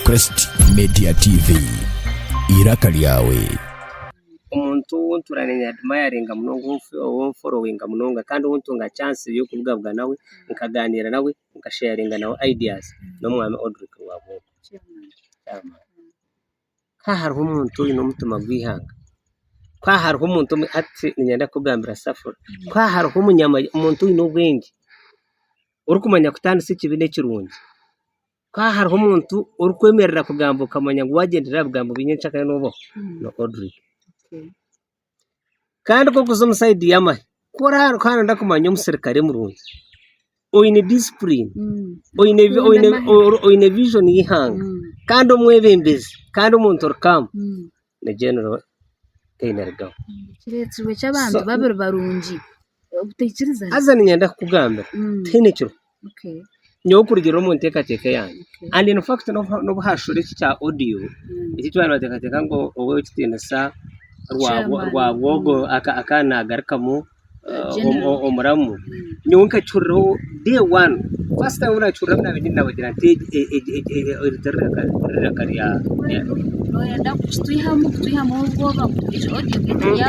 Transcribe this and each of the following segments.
Crest Media TV, eiraka lyawe. Omuntu ou ntuura naye nyadimayaringa munonga ou mforowinga munonga kandi ou ntunga chansi y'okubugabuga nawe nkagaaniira nawe nkasheyaringa nawe ideas n'omwami Odrick Rwabuhu chairman. Ku hariho omuntu oine omutima gw'eihanga, ku hariho omuntu omwe hati niinyenda kukugambira Safari, ku hariho omuntu oine obwengye orikumanya kutaanisa ekibi n'ekirungi, ku hariho omuntu orikwemerera kugamba okamanya ngu waagyendera aha bigambo binye encakare noobaho, ni Odrick. Kandi ku orikuza omu sayidi y'amahe, ku orikuba nooyenda kumanya omuserukare murungi, oine disipurini, oine vijoni y'eihanga kandi omwebembezi kandi omuntu ori kaamu ni Genero Kainerugaba. Haza niinyenda kukugambira tihaine ekirukuhwaho. Nyowe kurugiirira omu nteekateeka yangye kandi n'obu haashura eki kya odiyo eki twabaire nibateekateeka ngu ow'ekitiinisa Rwabwogo akaba naagarukamu omuramu, nyowe nkakihuriraho day one, first time obu naakihuriraho naabaire ndi nawe ogira nti eri tiriraka rya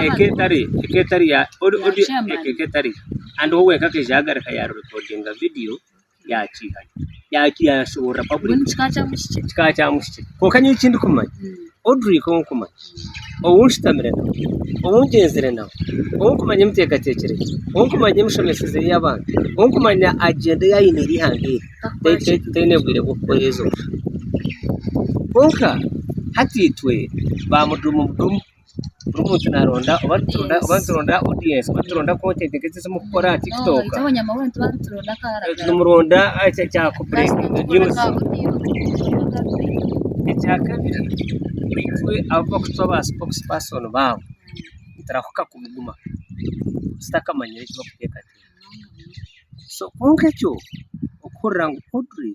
eka etari yo. Kandi we obwe akaija yaagarika yaarekodinga vidiyo yaakiiha yaashoboorora paburiki. Ekika kya mushiki. Kwonka nyowe eki ndikumanya, Odrick ou ndikumanya, ou nshutamire nawe, ou ngyenzire nawe, ou ndikumanya emiteekateekyere ye, ou ndikumanya emishomeseze y'abantu, ou ndikumanya agyenda ei aine eri eihanga eri, taine bwire bw'okukora ezo nshobe. Kwonka hati itwe baamuduumuduumu. buri muntu naronda oba nituronda oba nituronda audience oba nituronda content nk'ezi ezimukukora aha tiktok nimuronda ekyo kya ku break news ekyakabiri itwe abu bakutwa ba spokes person baabo niturahuka kubuguma tutakamanyire eki bakuteekateeka so kwonka ekyo okuhurira ngu Audrey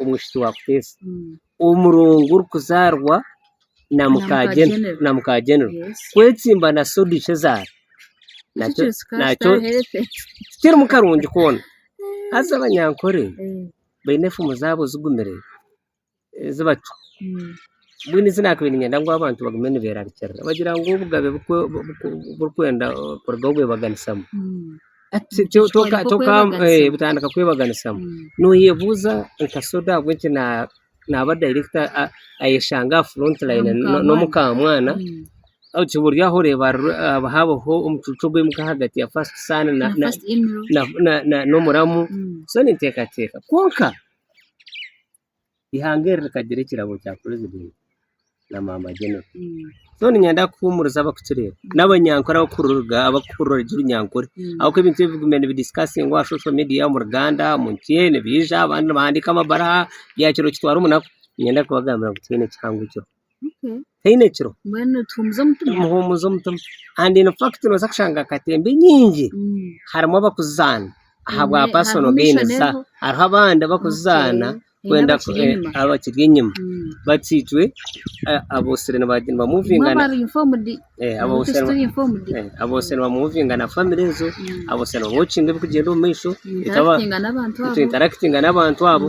omwishiki wa Kuteesa omurongo orikuzaarwa na muka genero kwetsimba na soda ishe zaara nakyo tikirimu karungi koona haza abanyankore baine efumu zaabo zigumire ezi bacwa. Mbwenu eki nabiire niinyenda ngu abantu bagume nibeerarikirira bagira ngu obugabe burikwenda kuruga ahu bwebaganisamu butandika kwebaganisamu noyebuuza nka soda ahabw'enki naaba dayirekita ayeshanga aha furonti layini n'omu kamwana buri aho oreeba hariho omucuucu ogw'omuka ahagati ya fasiti saani n'omuramu so ninteekateeka kwonka eihanga eri rikagira ekirabo kya purezidenti na mama genero so niinyenda kuhuumuriza abarikukireeba n'abanyankore abarikuhurira orurimi orunyankore ahabw'okuba ebintu ebi biguma nibidisikatingwa aha shosho media omu Uganda omu nsi enu nibaija abandi nibahandiika amabaruha bya kiro kitwara omunaku niinyenda kubagambira ngu twine ekihango ekyo haine kiro nimuhumuza omutima kandi infact nobaasa kushanga katemba enyingi harimu abarikuzizaana ahabwa pasono geyinizi zaabo hariho abandi abarikuzizaana kwenda abakiri enyima bati itwe abotsire nibamuvinga na famire ezo abotsire nibawokinga ebirikugyenda omu maisho nitwintarakitinga n'abantu abo.